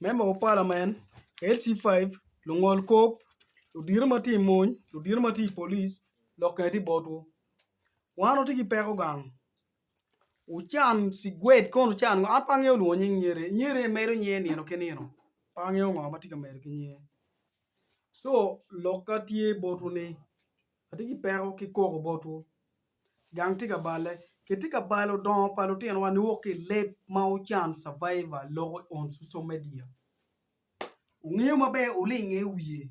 Me moko palamen, LC5, lungol kop, ludito ma tye i mony, ludito ma tye i police lok kene tye botwu. Wan watye ki peko gang, wucan cigwed kono wucan ngo, an pe angeyo lwongo nying nyer-ri, nyer-ri emedo nyer nino ki nino pe angeyo ngo ma tye ka medo ki nyer-ri. Co lokka tye botwu ni. Atye ki peko ki koko botwu, gang tye ka balle. Kitye ka balo dongo pa lutinowa niwok ki i leb ma wucan, Survivor, loko on social media. Wungeyo maber wulinge i wiye.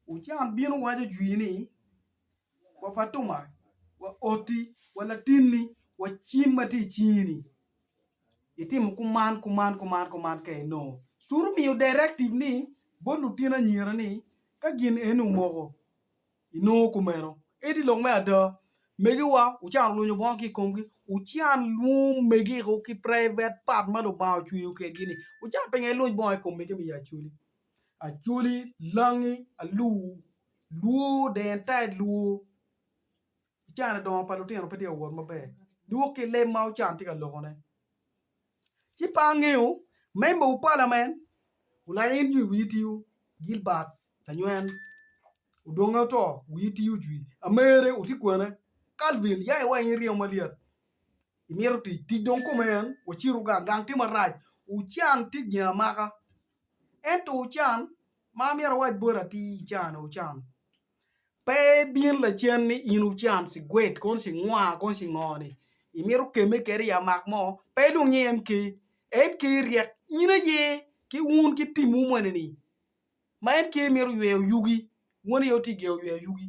Wucan bino waco jwi ni, Wa Fatuma, wa oti, wa latinni, wa cim ma tye i cingi-ni. Itimo kuman, kuman, kuman, kuman ka inongo curu miyo directive ni bot lutino anyira ni ka gin eni omoko inongo kumeno. Edi lok me ada, megiwa wucan lunyo bongo ki i komgi, wucan lwom megiku ki private part ma Lubanga ocweyo kedgi ni wucan pingo iluny bongo i kom mege me Acholi, Acholi, Langi, Alur, Luo, the entire Luo. I can-ni dongo pa lutino pe tye ka wot maber dok ki leb ma ocan tye ka lokone. Ci pe angeyo memba wu palamen olanya in jwi wiyi tiyo, Gilbert lanywen odonge oto wiyi tiyo jwi, amere oti kwene, Calvin ya iwa in iryemo malyet imito tic, tic dong kome en wacitu gang gang tye marac wucan tye gin amaka ento wucan ma amyero awac boti atir ican-ni wucan. Pe ibin lacen ni in wucan cigwed kono cingwa kono cingo ni imito kemme kede i amak mo pe ilwong nying MP, MP ryek in aye ki wun ki tim wu moni ni ma MP mito yweyo yugi wun aye wutye geo yweyo yugi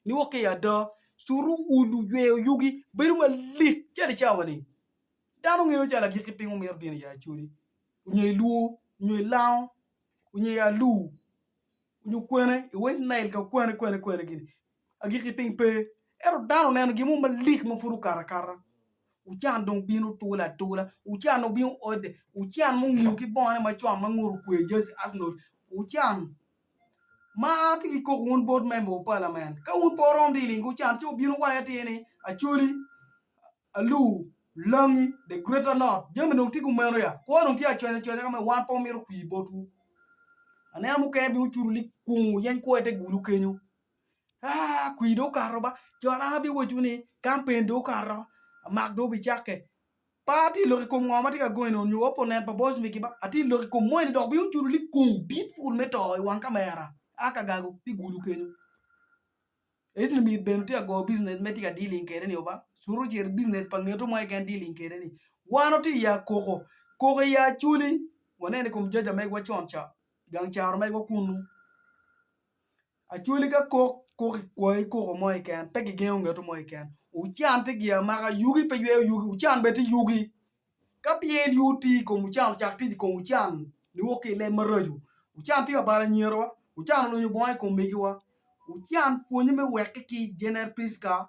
ni wok ki ada culu wu luyweyo yugi bedo malit calo i cawa ni dano ngeyo calo agikki piny mumito bino i acoli nyo iluo nyo ilango nyo i alur. onyo kwene i west nile ka kwene kwene kwene gini agiki piny pe ento dano oneno gin mo malik ma pud okato akata wucan dong bino tula atula wucan dong bino ode wucan mungiyo ki bongone macon ma ngute okwe jersey arsenal wucan ma an atye ki koko wun board member of parliament ka wun pe wurom dong iling wucan ci wubin wuwacci atir ni acholi Alu, langi, the greater not, jami dong tye ki omeno ya? Kwo dong tye aconya aconya ka ma wan pe wamito kwir botwu. Anena mukene bino cuto ni kung wuyeny kwo i te gulu kenyo. Ah, kwir dong okato ba. Jo anaka biwacciwu ni kampen dong okato, mak dong obicakke. Pa atye ka lok i kom ngo ma tye ka gonyone onyo opponent pa Boss Mickey ba? Atye ka lok i kom moni dok bino cuto ni kung dit pul me to i wang kamera a ka gago te gulu kenyo. Ecli myero bene otyek go business me tye ka dealing kede ni oba cuto ciro i business pa ngeto mo keken dealing kede ni wan watye i akoko koko i acoli waneno i kom jaja megwa con ca gang caro megwa kunu acoli ka kok kok i kwoyo koko mo keken pe gigengo ngeto mo keken wucan tye giya maka yugi pe yweyo yugi wucan bene tye yugi Ka pien yo tye i kom wucan ocak tic i kom wucan niwok ki i leb maraco. Wucan tye ka balo anyerowa, wucan olunyo bongo i kom megiwa, wucan pwonye me wekki ki Jener Priska,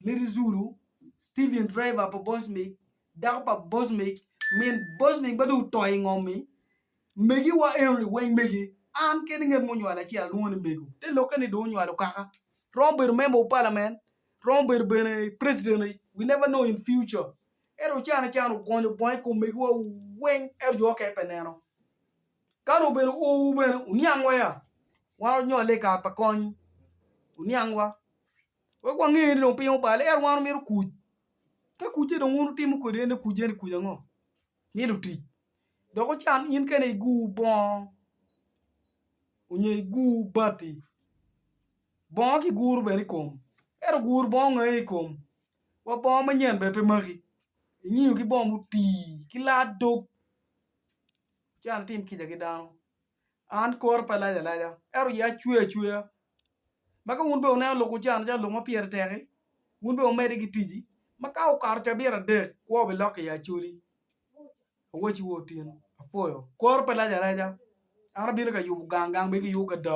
Lady Zulu, Steven Driver pa Bosmik, dako pa Bosmik, min Bosmik ma dong oto i ngom-mi, megiwa enoni weng megi. An kene ngat munywalo acel alwongo ni mego. Te lokke ni dong onywalo kaka. Romo bedo member of parliament, romo bedo bene president, we never know in future. Ento can can ogonyo bongo i kom megiwa weng, ento jo okene pe neno. Ka nongo bene owu bene wuniangwa ya, wan onyole i kare pa kony, wuniangwa, wek wange ni dong piny obale, ento wan wamito kuc. Ka kucce dong wun wutimo kwede en ni kuc eni kuc ango? Myelo tic. Dok ocan in kene iguwu bongo onyo iguwu bati, bongo ki guru bene i kom, ento guru bongo ngae i kom. Wa bongo manyen bene pe maki ingiyo ki bongo mutii ki laa dog ci an atim kica ki dano an kore pe alac alaca ento iye acwe acweya ma ka wun bene wuneno lok wucano calo lok ma pire tek-ki wun bene wumedde ki ticci ma ka okato cabit adek kwo bilok iye acoli awaci wa Otin apwoyo kore pe lac alaca an abino ka yubo gang gang bene kiyubo ki ada